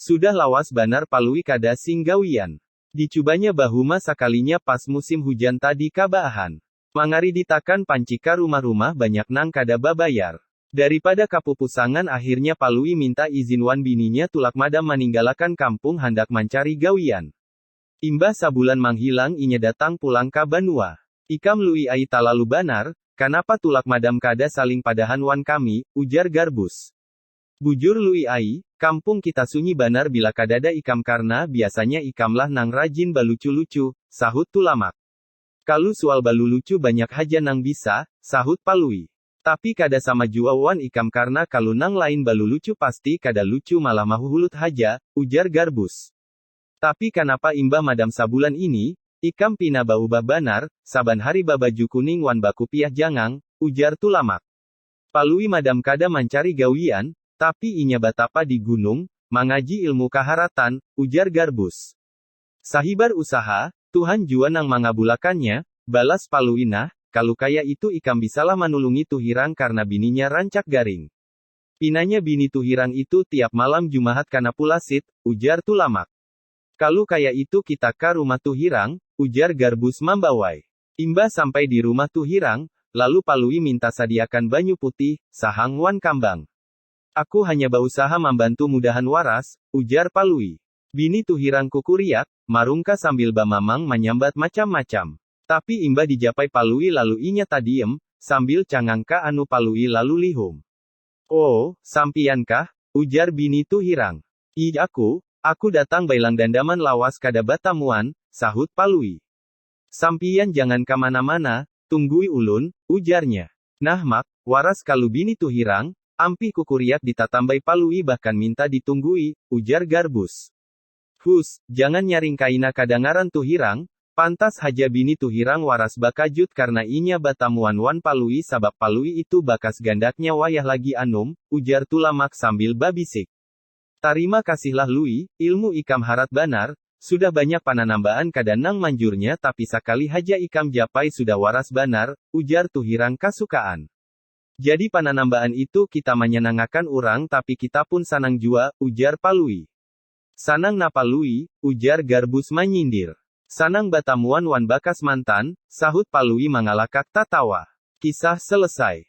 Sudah lawas banar Palui kada sing gawian. Dicubanya bahuma sakalinya pas musim hujan tadi ka baahan. Mangariditakan panci ka rumah-rumah banyak nang kada babayar. Daripada kapupusangan akhirnya Palui minta izin wan bininya tulak madam maninggalakan kampung handak mancari gawian. Imbah sabulan manghilang inya datang pulang ka banua. Ikam Lui ai talalu banar, kanapa tulak madam kada saling padahan wan kami, ujar Garbus. Bujur Lui ai, kampung kita sunyi banar bila kadada ikam karna biasanya ikamlah nang rajin balucu-lucu, sahut Tulamak. Kalu sual balulucu banyak haja nang bisa, sahut Palui. Tapi kada sama jua wan ikam karna kalu nang lain balulucu pasti kada lucu malah mahuhulut haja, ujar Garbus. Tapi kanapa imbah madam sabulan ini, ikam pina baubah banar, saban hari babaju kuning wan bakupiah jangang, ujar Tulamak. Palui madam kada mancari gawian, tapi inya batapa di gunung, mangaji ilmu kaharatan, ujar Garbus. Sahibar usaha, Tuhan jua nang mangabulakannya, balas Palui nah, kalu kaya itu ikam bisalah manulungi Tuhirang karna bininya rancak garing. Pinanya bini Tuhirang itu tiap malam Jumahat kana pulasit, ujar Tulamak. Kalu kaya itu kita ka rumah Tuhirang, ujar Garbus mambawai. Imbah sampai di rumah Tuhirang, lalu Palui minta sadiakan banyu putih, sahang wan kambang. Aku hanya bausaha mambantu mudahan waras, ujar Palui. Bini Tuhirang kukuriak, marungka sambil bamamang manyambat macam-macam. Tapi imbah dijapai Palui lalu inya tadiem, sambil cangang ka anu Palui lalu lihum. Oo, sampiyan kah? ujar bini Tuhirang. Iih aku, aku datang bailang dandaman lawas kada batamuan, sahut Palui. Sampiyan jangan ka mana-mana, tunggui ulun, ujarnya. Nah Mak, waras kalu bini tu hirang, ampih kukuriak di tatambai palui bahkan minta di tunggui, ujar Garbus. Huss, jangan nyaring kaina kadangaran tu hirang, pantas haja bini tu hirang waras bakajut karna inya batamuan wan palui sabab palui itu bakas gandaknya wayah lagi anum, ujar Tulamak sambil babisik. Tarima kasihlah Lui, ilmu ikam harat banar, sudah banyak pananambaan kada nang manjurnya tapi sakali haja ikam japai sudah waras banar, ujar Tuhirang kasukaan. Jadi pananambaan itu kita manyanangakan urang tapi kitapun sanang jua, ujar Palui. Sanang napa Lui? ujar Garbus manyindir. Sanang batamuan wan bakas mantan, sahut Palui mangalakak tatawa. Kisah selesai.